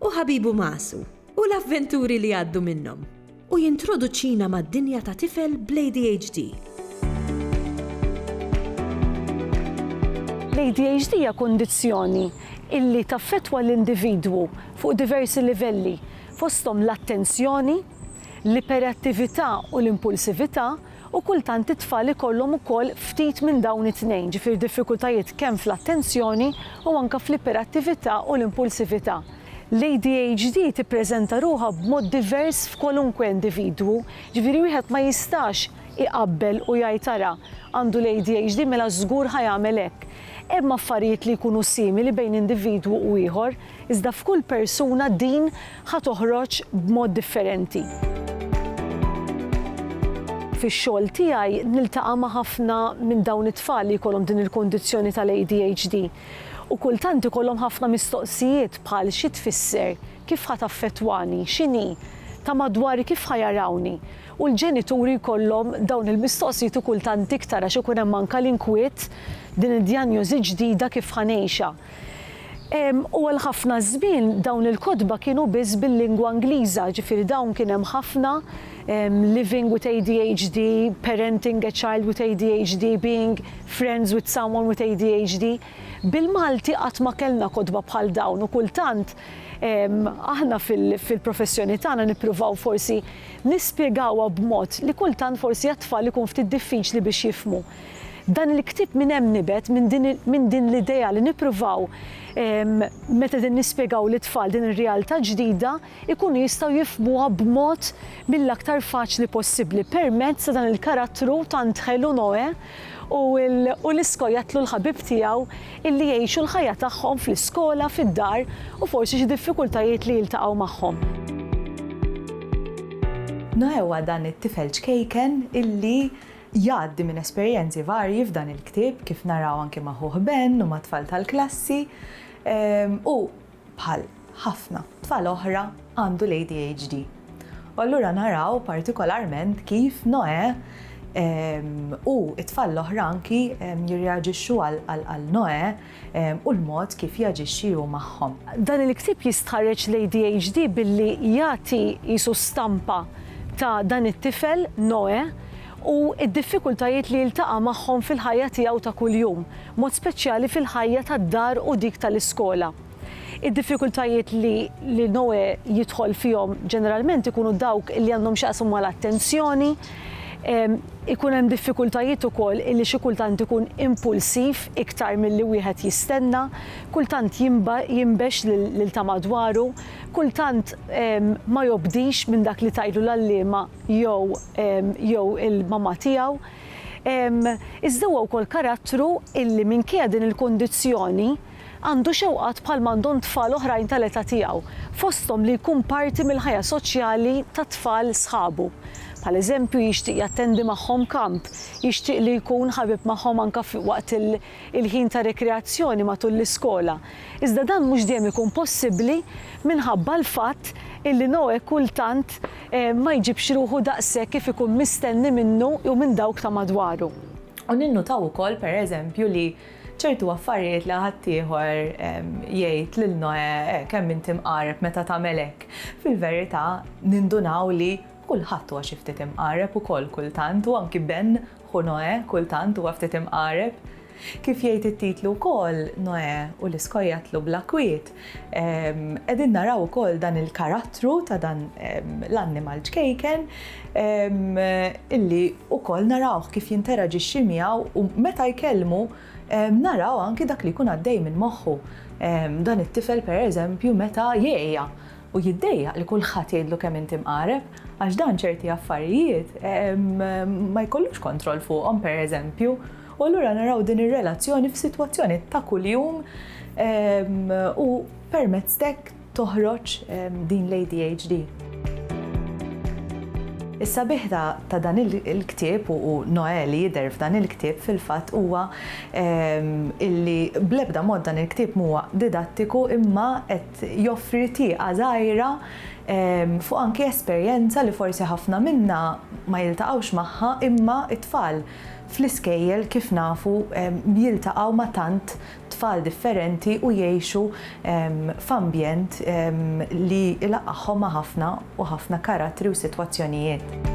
u ħabibu Masu, u l-avventuri li jgħaddu minnhom. U jintroduċina mad-dinja ta' tifel bl-ADHD. L-ADHD hija kundizzjoni illi taffettwa l-individwu fuq diversi livelli, fosthom l-attenzjoni, l-iperattività u l-impulsività, u kultant it-tfal ikollhom ukoll ftit minn dawn it-tnejn, ġifieri diffikultajiet kemm fl-attenzjoni u anke fl-iperattività u l-impulsività. L-ADHD tippreżenta ruħha b'mod divers f'kwalunkwe individwu, ġifieri wieħed ma jistax iqabbel u jgħid ara, għandu l-ADHD mela żgur ħa jagħmel hekk. Hemm affarijiet li jkunu simili bejn individwu u ieħor, iżda f'kull persuna din ħa toħroġ b'mod differenti. Fix-xogħol tiegħi niltaqa' ma' ħafna minn dawn it-tfal li jkollhom din il-kundizzjoni tal-ADHD u kultant ikollhom ħafna mistoqsijiet bħal xi tfisser, kif ħa taffettwani, x'inhi, ta' madwari kif ħa jarawni u l-ġenituri jkollhom dawn il-mistoqsijiet u kultant iktar għax ikun hemm anke l-inkwiet, din id-djanjosi ġdida kif ħa ngħixha. U għal ħafna żmien dawn il-kotba kienu biss bil-lingwa Ingliża, ġifieri dawn kien hemm ħafna living with ADHD, parenting a child with ADHD, being friends with someone with ADHD. Bil-Malti qatt ma kellna kotba bħal dawn u kultant aħna fil-professjoni tagħna nippruvaw forsi nispjegawha b'mod li kultant forsi għat-tfal ikun ftit diffiċli biex jifhmu. Dan il-ktieb minn hemm nibet, minn din l-idea li nippruvaw meta qegħdin nispjegaw lit-tfal din ir-realtà ġdida jkunu jistgħu jifhmuha b'mod mill-aktar faċli possibbli permezz ta' dan il-karattru tant ħelu Noè u l-iskojattlu l-ħabib tiegħu illi jgħixu l-ħajja tagħhom fl-iskola, fid-dar u forsi xi diffikultajiet li jiltaqgħu magħhom. Noè huwa dan it-tifel ċkejken illi Jgħaddi minn esperjenzi varji f'dan il-ktieb kif naraw anki ma' ħuh Ben u mat-tfal tal-klassi u bħal ħafna tfal oħra għandu l-ADHD. U allura naraw partikolarment kif Noè u t-tfal l-oħra anki jirreaġixxu għal Noè u l-mod kif jaġixxi hu magħhom. Dan il-ktieb jistħarreġ l-ADHD billi jagħti qisu stampa ta' dan it-tifel, Noè, u d-diffikultajiet li jiltaqa' magħhom fil-ħajja tiegħu ta' kuljum, b'mod speċjali fil-ħajja tad-dar u dik tal-iskola. Id-diffikultajiet li li Noè jidħol fihom ġeneralment ikunu dawk li għandhom x'jaqsmu mal-attenzjoni, Ikun hemm diffikultajiet ukoll illi xi kultant ikun impulsiv iktar milli wieħed jistenna, kultant jinbex lil ta' madwaru, kultant ma jobdix minn dak li tgħidlu l-għalliema jew jew il-mamà tiegħu. Iżda huwa wkoll karattru illi minkejja din il-kundizzjoni, għandu xewqat bħal m'għandhom tfal oħrajn tal-età tiegħu, fosthom li jkun parti mill-ħajja soċjali tat-tfal sħabu. Bħal eżempju, jixtieq jattendi magħhom kamp, jixtieq li jkun ħabib magħhom anke waqt il-ħin ta' rekreazzjoni matul l-iskola. Iżda dan mhux dejjem ikun possibbli minħabba l-fatt illi Noè kultant ma jġibx ruħu daqshekk kif ikun mistenni minnu jew minn dawk ta' madwaru. U ninnutaw ukoll, per eżempju, li Ċertu affarijiet li ħaddieħor jgħid lil Noè, eh, kemm inti mqareb meta tagħmel hekk. Fil-verità, nindunaw li kulħadd huwa xi ftit imqareb ukoll kultant u anki Ben, ħu Noè, kultant huwa ftit imqareb. Kif jgħid it-titlu wkoll, Noè u l-iskojatlu bla kwiet Qegħdin naraw ukoll dan il-karattru ta' dan l-annimal ċkejken illi wkoll narawh kif jinteraġixxi miegħu u meta jkellmu naraw anki dak li jkun għaddej minn moħħu. Dan it-tifel pereżempju meta jgħeja u jiddejjaq li kulħadd jgħidlu kemm inti mqareb għax dan ċerti affarijiet ma jkollux kontroll fuqhom pereżempju. U allura naraw din ir-relazzjoni f'sitwazzjoni ta' kuljum u permezz t'hekk toħroġ din l-ADHD. Is-sabiħ ta' dan il-ktieb u Noè li jidher f'dan il-ktieb fil-fatt huwa illi bl-ebda mod dan il-ktieb mhuwa didattiku imma qed joffri tieqa żgħira fuq anki esperjenza li forsi ħafna minna ma jiltaqgħux magħha imma t-tfal Fl-iskejjel, kif nafu, jiltaqgħu ma' tant tfal differenti u jgħixu f'ambjent li jlaqqagħhom ma' ħafna u ħafna karattri u sitwazzjonijiet.